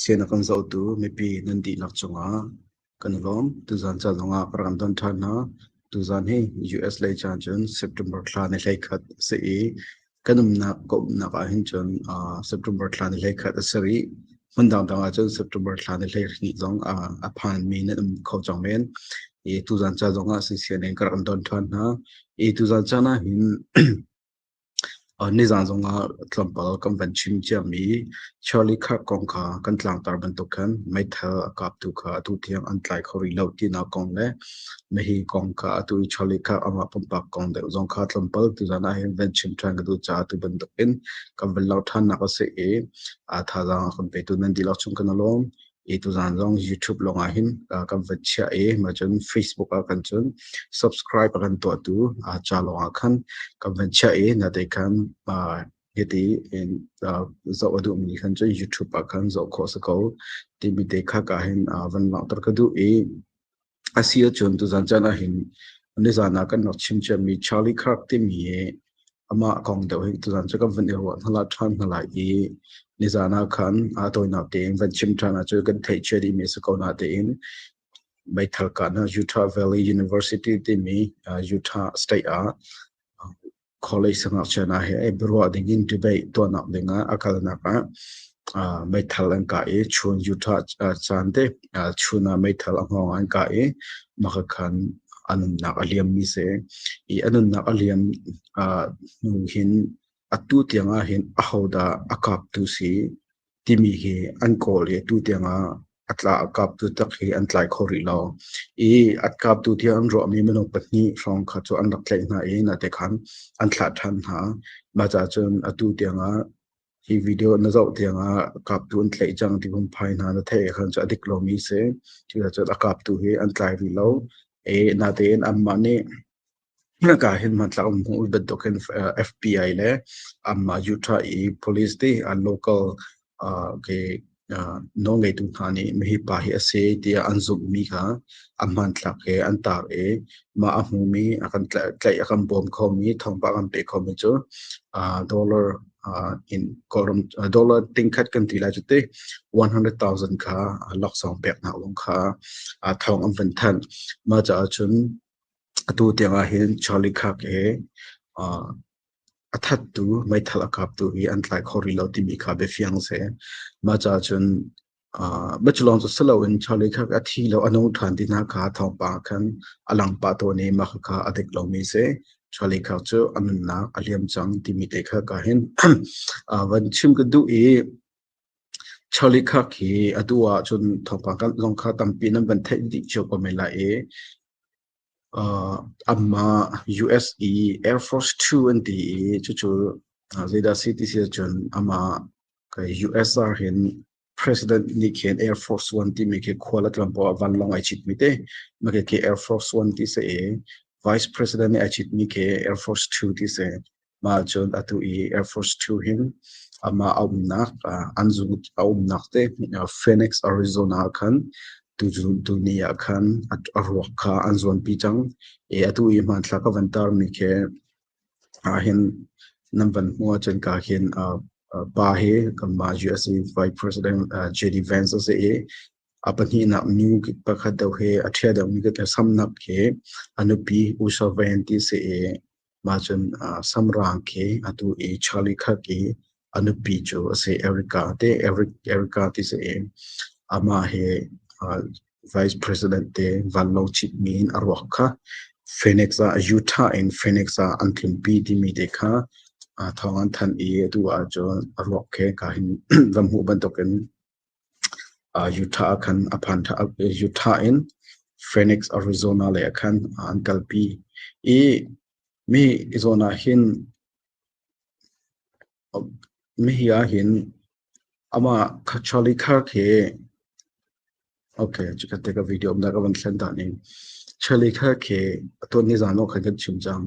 Sian a kan zohtu mipi nan dihlak cungah kan lawm. Tuzaan ca zongah ka rak don ṭhan hna. Tuzaan hi US lei caan cun September thla ni hlei khat a si i kan umnak ka umnak ahhin cun aa September thla ni hlei khat a si rih. Hmun dangdang ahcun September thla ni hlei hnih zong aa a phanmi nan um kho cang men. I tuzaan ca zongah si sian in ka rak don ṭhan hna. I tuzaan caan ahhin Nizaan zongah tlawmpal kan van chim ciami Shirley Kirk kong kha kan tlangtar bantuk khan meithal a kaptu kha atu tiang an tlai kho rih lo tinak kong le mehhi kong kha atu i Shirley Kirk amah pumpak kong deuh zong kha tlawmpal tuzaan ah hin van chim ṭhan ka duh caah atu bantuk in kan van lau ṭhannak a si i thazaang a kan petu nan dihlak chung kan i lawm. i tuzaan zong YouTube lawng ah hin kan van chiah i ma cun Facebook ah kan cun subscribe a kan tuahtu ca lawng ah khan kan van chiah i na te khan hiti in zoh a duhmi khan cun YouTube ah khan zoh khawh si ko timi te khak ah hin van langhter ka duh i a si ahcun tuzan chan ah hin nizan ah kan rak chim ciami Charlie Kirk timi hi amah kong deuh hi tuzan cu kan van i ruah hnala ṭhan hnala i nizan ah khan aa tawinak tein van chim ṭhan ah cu kan theihcia dihmi a si ko na tein meithal ka hna Utah Valley University timi Utah state ah Khualei sangakchian ah hi ei biaruah ding in debate tuahnak dingah a kalnak ah ah meithal an kah i chun yuṭha ah caan te ah chun ah meithal a hngawng ah an kah i makakhan a nunnak a liammi si. I a nunnak a liam ah hnu hin atu tiang ah hin ahodah a kaptu si timi hi an kawl i atu tiangah a tla a kaptu tak hi an tlai kho rih lo i a kaptu tiang an ruahmi minung pahnih hrawng kha cu an rak tlaih hna i nate khan an thlah ṭhan hna maca cun atu tiangah hi video na zoh tiangah kaptu an tlaih cang ti kun phai hna na theih khan cu a dik lomi si cucacun a kaptu hi an tlai rih lo e natein anmah nih Hika hin hmantlak um hmuh bantuk hin FBI le amah Utah i police te an local ah ke nawlngeitu hna nih mihi pa hi a si tiah an zumhmi kha a hmanthlak he an taak i mah a hmumi a kan tlaih a kan bawm khomi thawngpang an pek khomi cu dollar in kawlram dollar tingkhat kan ti lai cu ti one hundred thousand kha laksawng pek hna kha thawng an van thanh mah caah cun Atu tiang ahhin Charlie Kirk he aa a thattu meithal a kaptu hi an tlai kho rih lo timi kha bia fiang a si. Mah caah cun aa mah cu lawng cu si loin Charlie Kirk a thi lo a nung ṭhan ti hna kha thawngpang ah khan a lang pah tawn i mah kha a dik lomi a si. Charlie Kirk cu a nunnak a liam cang timi te kha ka hin aa van chim ka duh i Charlie Kirk hi atu ahcun thawngpang kan zong kha tampi nan van theih dih cio ko men lai i uh, amah US i Air Force Two an ti i cucu uh, zeidah si ti si ahcun amah kai US ar hin president ni khin Air Force One ti mi khi khual a tlam poah van long ai chit mi te ma ke ke Air Force One ti se e Vice President ni ai chit mi ke Air Force Two ti se Mah cun atu i Air Force Two hin amah a umnak an zung a umnak te Phoenix, Arizona ah khan tuni ah khan a ruak kha an zuanpi cang i atu i hmanthlak a van tarmi khi hin nan van hmuh ahcun ka hin pa hi kanmah USA Vice President J.D. Vance a si i a pahnihnak nu pakhat deuh hi a ṭhia deuhmi ka samnak hi a nupi Usha Vayanti si i Mah cun uh, Samrang khi atu i Charlie Kirk i a nupi cu a si Erica te Eric Erica ti si i amah hi uh, vice president te van lo chit mi in a ruak kha Phoenix ah Utah in Phoenix ah an tlunpi timi te kha a thawng an than i atu ah cun a ruak he ka hin ram hu bantuk in Utah ah khan a phan Utah in Phoenix, Arizona lei ah khan an kalpi i mi zawn ah hin mihi ah hin amah Charlie Kirk hi okay cuka te ka video um dah ka van thlen dah ni Charlie Kirk hi atuan nizan ah khan kan chim cang.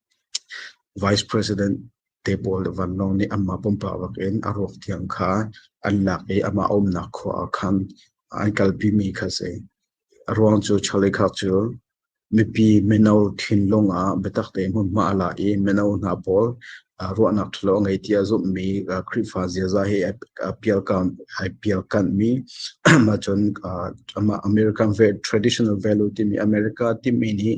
Vice President te pawl le vanlawng nih anmah pumpak in a ruak thiang kha an lak i amah a umnak khua ah khan an kalpimi kha a si. A ruang cu chalikhak cu mipi mino thinlung ah biatak tein hmunhma a la i mino hna pawl ruahnak ṭhalo a ngei tiah zumhmi Khrihfa ziaza hi ai pialkanhmi ahcun amah American traditional value timi America timi nih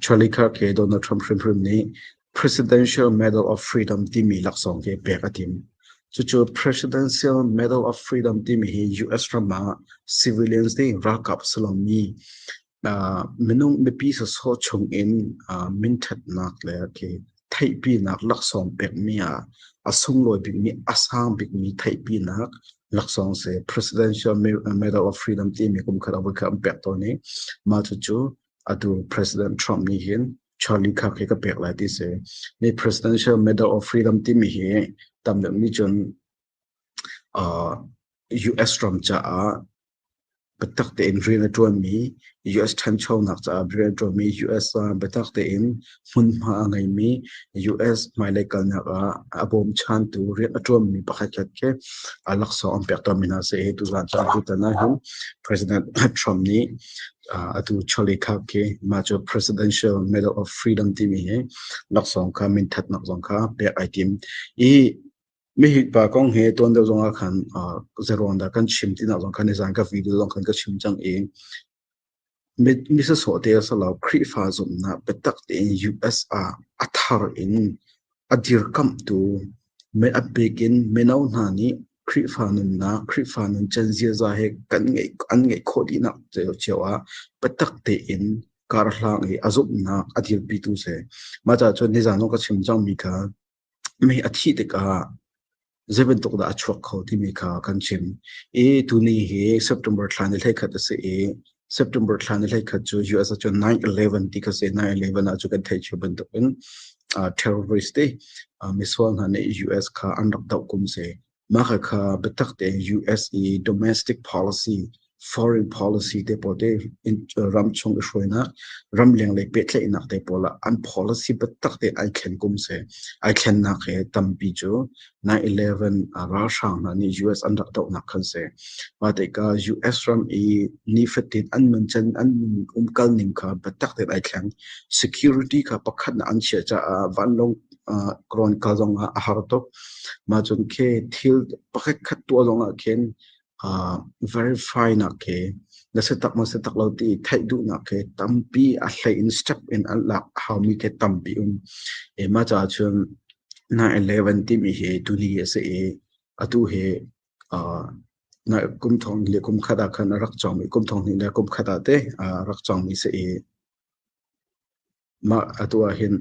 Charlie Kirk he Donald Trump hrimhrim nih Presidential Medal of Freedom timi laksawng hi pek a tim. Cucu Presidential Medal of Freedom timi hi US ram ah civilians nih ralkap silomi uh, minung mipi sawsawh chung in uh, minthatnak le khi theihpinak laksawng pekmi ah a sunglawi bikmi a sang bikmi theihpinak laksawng se Presidential Medal of Freedom timi kum khat a voi kha an pek tawn i mah cu cu atu President Trump nih hin Charlie kha ka pek lai ti se ni Presidential Medal of Freedom timi hi tam deuh nih cun US ram caah biatak tein rian a ṭuanmi US ṭhanchonak caah rian a ṭuanmi US ah biatak tein hmunhma a ngeimi US hmailei kalnak ah a bawmchantu rian a ṭuanmi pakhatkhat khi laksawng an pekṭammi hna si i tuzaan caan tutan ahhin President Trump nih atu chawlei khap khi mah cu Presidential Medal of Freedom timi hi laksawng kha minthatnak zong kha pek ai tim i Mihitpa kong he tuan deuh zongah khan zeruang dah kan chim tinak zong khan izan ka video zong khan ka chim cang i misa sawh te a salo Khrihfa zumhnak biatak tein US ah a thar in a dirkamhtu a pek in mino hna nih Khrihfa nunnak Khrihfa nun can ziaza he kan ngei an ngeih khawh dihnak cio ah biatak tein karhlang i a zumhnak a dirpitu se. Mah cah cun nizan ka chim cangmi kha mei a thih tikah zei bantuk dah a chuak kho timi kha kan chim i tuni hi September thla ni hlei khat a si i September thla ni hlei khat cu US ah cun 9/11 ti ka se 9/11 ah cu kan theih cu bantukin terrorist te misual hna nih US kha an rak doh kum si Maka kha biatak te US i domestic policy foreign policy te pawl te ram chung i hruainak ram leng le pehtlaihnak te pawl ah an policy biatak te ai thlen kum se ai thlennak he tampi chu 9/11 ralhrang hna nih US an rak dohnak khan se wa te ka US ram i nifatin an nun chen an umkal ning kha biatak te ai thleng security kha pakhat na an chia cha vanlong rawn kal zong ah a har tuk. Mah cun khi thil pakhat khat tuah zong ah khin verify nak khi na si tak maw si tak lo ti theih duh nak khi tampi a hlei in step in an lak a hau mi khi tampi um. E mah caah cun 9/11 timi hi tuni a si i atu hi na kum thong le kum khat ah khan a rak cang mi kum thong hnih le kum khat ah te a rak cang mi si i Mah a tuah hin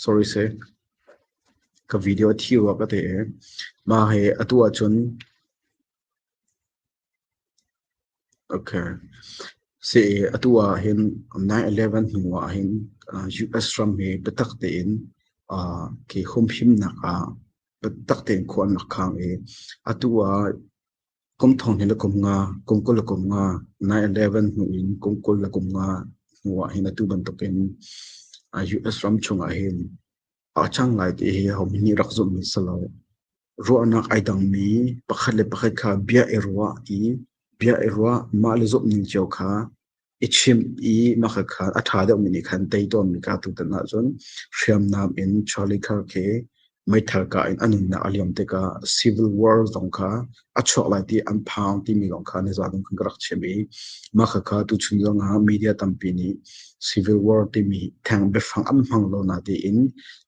sorry se ka video thi wa ka te e ma he atu a chun okay se atu a hin 9/11 hnu ah hin US ram he bitak te in ke humhim nak ah bitak te in khuan nak khang e atu a Kum thong hin a kum nga, kum kul a kum nga, 9-11 hnu in kum kul a kum nga hnu ah hin atu bantukin US ram chungah hin a cang lai ti hi hom nih rak zumh mi si lo. Ruahnak ai dangmi pakhat le pakhat kha bia i ruah i bia i ruah mah le zumh ning cio kha i chimh i maka kha a ṭha deuhmi nih khan tei tawnmi kaa tutan ahcun hriamnam in Charlie Kirk he meithal ka in a nunnak a liam tikah civil war zong kha a chuak lai ti an phang timi zong kha na zadung khan ka rak chim i maka kha tuchun zong ah media tampi nih civil war timi theng biafang an hmang lo na tiin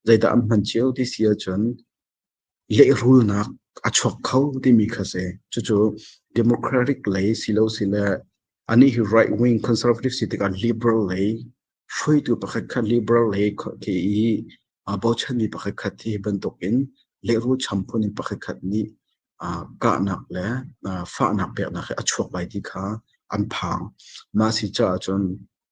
zeidah an hman cio ti si ahcun lehrulnak a chuak kho timi kha si. Cucu democratic lei silo sile ani hi right wing conservative si tikah liberal lei hruaitu pakhat kha liberal lei ke i bochan mi pakhat khat hi bantuk in lehrul champun in pakhat khat nih kahnak le fahnak peknak he a chuak lai ti kha an phang. Mah si caah cun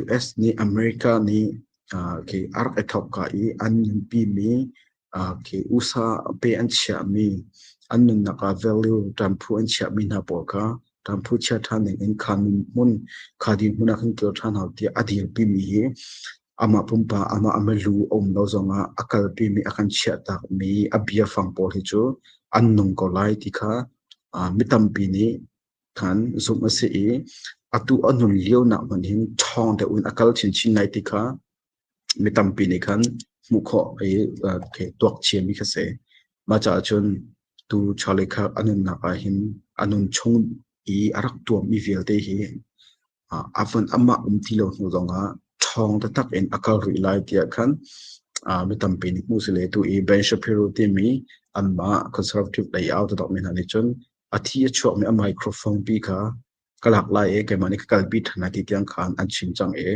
US nih America nih okay, ark i thawk ka i an nunpi mi okay, usa pe an chiah mi an nunnak ah value ṭamphu an chiah mi hna pawl kha ṭamphu chia ṭhan ning in kha nun hmun kha din hmun ah khan kil ṭhan hau tiah a dilpi mi hi amah pumpa amah ama lu a um lo zong ah a kalpi mi a kan chiah tak mi a bia fang pawl hi cu an nung ko lai ti kha mi tampi nih khan zumh a si i atu a nun lionak hmanh hin ṭhawng deuh in a kal chinchin lai ti kha mi tampi nih khan hmuh khawh i tuak chiami kha si. Mah caah cun tu chawleh kha a nunnak ah hin a nun chung i a rak tuammi vialte hi amah um ti lo hnu zongah ṭhawng taktak in a kal rih lai tiah khan mi tampi nih hmuh si le tu i Ben Shapiro timi anmah conservative layout tawkmi hna nih cun a thi a chuakmi a microphone pi kha ka lak lai i keimah nih ka kalpi ṭhan lai ti tiang khan an chim cang i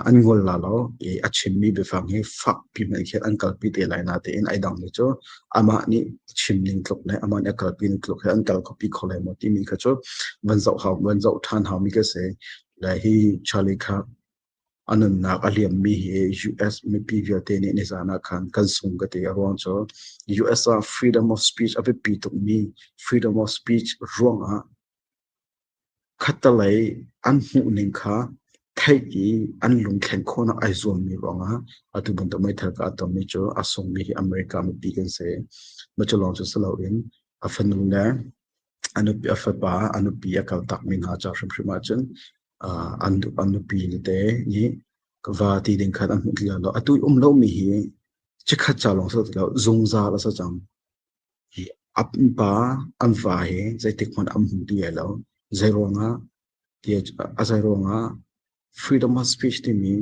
an ngol la lo i a chimmi biafang hi fakpi hmanh khin an kalpi te lai na tein ai dang mi cu amah nih chim ning tluk le amah nih a kalpi ning tluk he an kal kho pi kho lai maw timi kha cu van zoh hau van zoh ṭhan hau mi ka se le hi Charlie kha a nunnak a liam mi hi US mipi vialte nih nizan ah khan kan sung ka ti a ruang cu US ah freedom of speech a biapi tuk mi freedom of speech ruang ah Khattelei an hmuhning kha theih i an lungthlen khawhnak ai zuammi ruangah atu bantuk meithal ka a tonmi cu a sungmi hi America mipi kan si. Mah cu lawng cu si loin a fanu le a nupi a fapa a nupi a kaltakmi hna ca hrimhrim ahcun aa an nu an nupi nute nih va ti ding khan an hmuh ti lai lo. Atu i um lomi hi chikkhat ca lawng si lo ti lo zungzal a si cang. A pupa an fa hi zeitikhmanh an hmu ti lai lo. Zeiruangah tiah a zeiruangah freedom of speech timi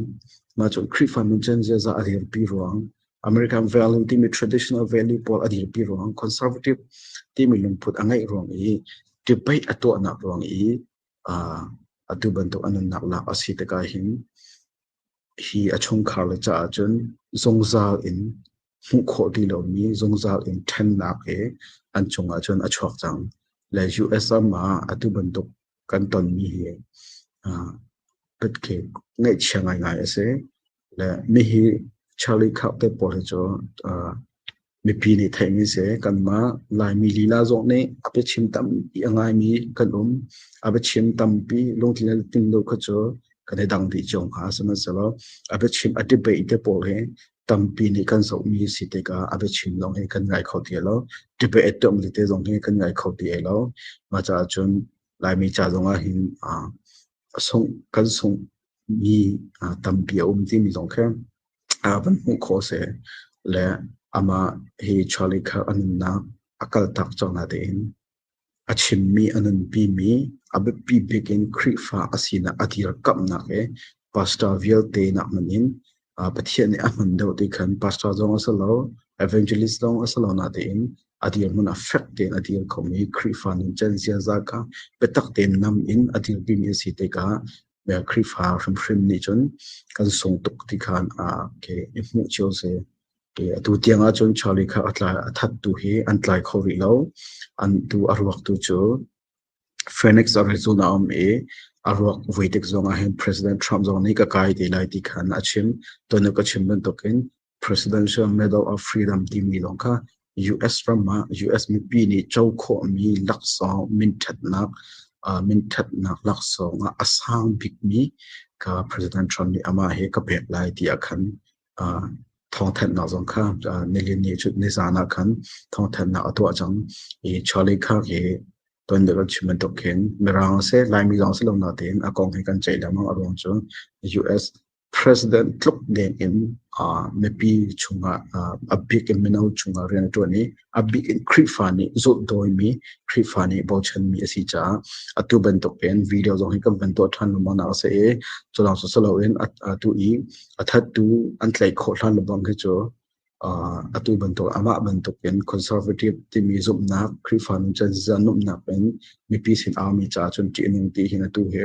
mah cu Khrihfa nuncan ziaza a dirpi ruang American value timi traditional value pawl a dirpi ruang conservative timi lungput a ngeih ruang i debate a tuahnak ruang i uh, atu bantuk a nunnak lak a si tikah hin hi a chungkhar le caah cun zungzal in hmuh khawh ti lomi zungzal in ṭhennak he an cungah cun a chuak cang. Le US ram ah atu bantuk kan tonmi hi pitke ngeihchia ngaingai a si. Le mihi Charlie Kirk te pawl hi cu mipi nih theihmi si kanmah Laimi lila zong nih a biachim tampi a ngaimi kan um a biachim tampi lungthin le tin lo kha cu kan i dang dih cio hna sihmanhsehlaw a biachim a debate te pawl hi tampi nih kan zohmi si tikah a biachin lawng hi kan ngai kho ti lo. Tibe etuam li te zong hi kan ngai kho ti lo. Mah caah cun Laimi ca zongah hin sungh kan sungh mi tampi a um timi zong kha van hmuh khawh seh le amah hi Charlie Kirk a nunnak a kaltak cang na tein A chimmi a nunpimi, a biapi bik in Khrihfa a sinak a dirkamhnak le pastor vialte nak hmanh in Pathian nih a hman deuh ti khan pastor zong a si lo, evangelist zong a si lo natein a dirhmun a fek tein a dir khomi Khrihfa nuncan ziaza kha biatak tein nam in a dirpimi a si tikah Khrihfa hrimhrim nih cun kan sung tuk ti khan i hmuh cio sih. atu tiang ahcun Charlie kha a tlai a that tu hi an tlai kho rih lo an tu a ruak tu cu Phoenix Arizona um i a ruak vuitek zong ah hin President Trump zong nih ka kai te lai ti khan a chim tonu ka chim bantuk in Presidential Medal of Freedom timi lawng kha US ram ah US mipi nih cho khawh mi laksawng minthatnak minthatnak laksawng a sang bik mi ka President Trump nih ama he ka pek lai ti a khan thawngthanhnak zong kha nilin ni cu nizaan ah khan thawngthanhnak a tuah cang i Charlie Kirk hi ton deuh an chim bantuk khin mirang se laimi zong si lo na tein a kong hi kan ceih lengmang a ruang cu US president tluk ding in mipi chungah a big mino chungah rian a tuan i a bik in Khrihfa nih zulhdawimi Khrihfa nih bochanmi a si caah atu bantukin video zong hi kan van tuah ṭhan lengmang nak a si i culang sosai loin atu i a thattu an tlaih khawh hlan lengmang khi cu atu bantuk amah bantukin conservative timi zumhnak Khrihfa nuncan zizan numnak in mipi sin aumi caah cun ṭihning ti hin atu hi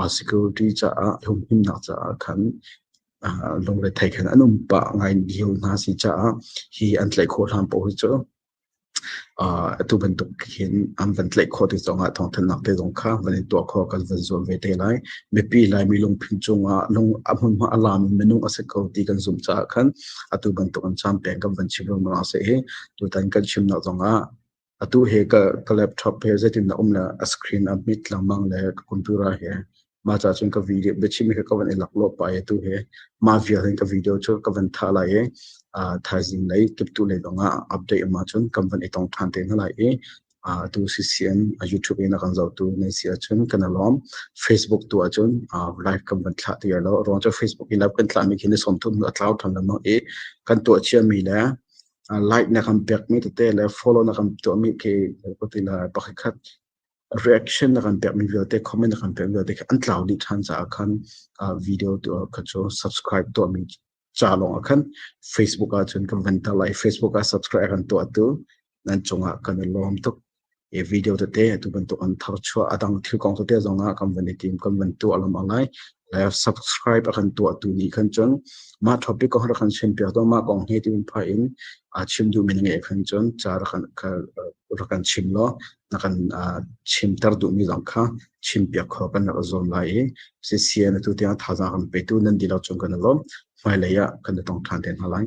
security caah humhimnak caah khan lungrethei khan an um pah ngai lio hna si caah hi an tlaih khawh hlan poh hi cu atu bantuk hin an van tlaih khawh ti zongah thawngthannak te zong kha van in tuah kho kan van zuam ve te lai mipi lai mi lungphin cungah lung ahmunhma alam minung ase ko ti kan zum caah khan atu bantuk an cham peng kan van chim rung ma se hi tutan kan chimnak zongah atu he ka ka laptop he zeitin na um le a screen a mit lengmang le ka computer he ma cha chun ka video biachim he ka van elak lo pa e tu he ma vial hin ka video chu ka van tha lai e a thaizing lai kip tu lai donga update ma chun kam van itong than te na lai e a tu ccn a youtube ina kan zau tu nei sia chun kana lom facebook tu a chun a live kam van thla ti lo rong cha facebook i live kan thla mi khin som thun a cloud tham lam e kan to chia mi le light na kan pekmi tete le follow na kan tuahmi khi koti la pakhat khat reaction na kan pekmi vialte comment na kan pekmi vialte khi an tlau dih than caah khan video tu kha cu subscribe tuahmi ca lawng ah khan facebook ah cun kan van ta lai facebook ah subscribe kan tuah tu nan cungah kan lawm tuk video tete atu bantuk an thar chuah a dang thil kong tete zong ah kan van i tim kan van tuah lam a ngai live subscribe a kan tuah tu ni khan chun ma topic ko har kan chen pia to ma kong he tin pha in a chim du min nge khan chun cha ra kan ra kan chim lo na kan chim tar du mi zong kha chim pia kho kan ra zom lai i si sia na tu ti tha za kan pe tu nan di lo chung kan lo mai le ya kan tong than ten halai